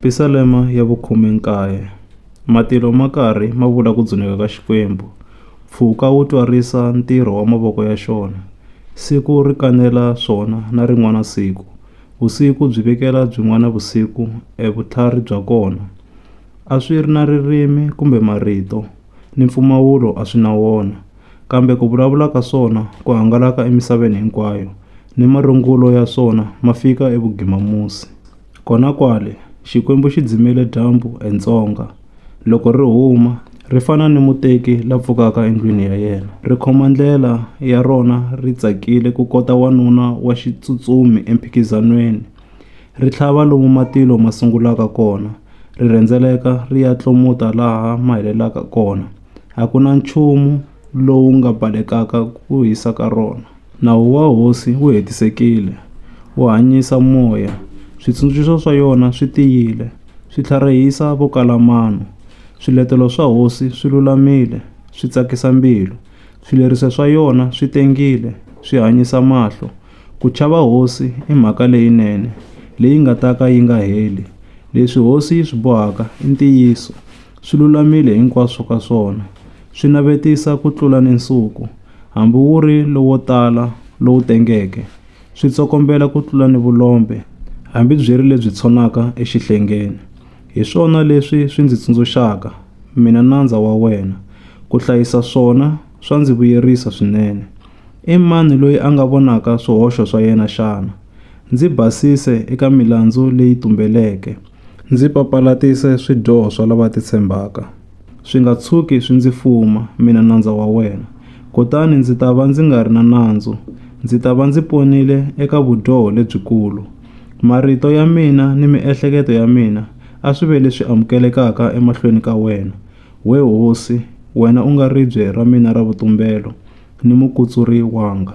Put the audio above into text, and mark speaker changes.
Speaker 1: Pisalema ya vukhume-nkaye. Matilo ma karhi ma vula ku dzuneka ka Xikwembu. Mpfhuka wu twarisa ntirho wa mavoko ya xona. Siku ri kanela swona na rin'wana siku. Vusiku byi vekela byin'wana vusiku e vutlhari bya kona. A swi ri na ririmi kumbe marito, ni mpfumawulo a swi na wona, kambe ku vulavula ka swona ku hangalaka emisaveni hinkwayo, ni marungulo ya swona ma fika evugimamusi. Kona kwale, Xikwembu xi dzimele dyambu entsonga. Loko ri huma, ri fana ni muteki la pfukaka endlwini ya yena. Ri khoma ndlela ya rona ri tsakile ku kota wanuna wa xitsutsumi emphikizanweni. Ri tlhava lomu matilo ma sungulaka kona, ri rhendzeleka ri ya tlomuta laha ma helelaka kona. A ku na nchumu lowu nga balekaka ku hisa ka rona. Nawu wa Hosi wu hetisekile, wu hanyisa moya, switsundzuxo swa yona swi tiyile, swi tlharihisa vo kala mano. Swiletelo swa Hosi swi lulamile, swi tsakisa mbilu, swileriso swa yona swi tengile, swi hanyisa mahlo. Ku chava Hosi i mhaka leyinene, leyi nga ta ka yi nga heli. Leswi Hosi yi swi bohaka i ntiyiso, swi lulamile hinkwaswo ka swona. Swi navetisa ku tlula ni nsuku, hambi wu ri lowo tala, lowu tengeke. Swi tsokombela ku tlula ni vulombe, hambi byi ri lebyi tshonaka exihlengeni. Hi swona leswi swi ndzi tsundzuxaka, mina nandza wa wena. Ku hlayisa swona swa ndzi vuyerisa swinene. I mani loyi a nga vonaka swihoxo swa yena xana? Ndzi basise eka milandzu leyi tumbeleke. Ndzi papalatise swidyoho swa lava titshembaka. Swi nga tshuki swi ndzi fuma mina nandza wa wena, kutani ndzi ta va ndzi nga ri na nandzu, ndzi ta va ndzi ponile eka vudyoho lebyikulu. Marito ya mina ni miehleketo ya mina a swi ve leswi amukelekaka emahlweni ka wena, we hosi, wena u nga ribye ra mina ra vutumbelo ni mukutsuri wanga.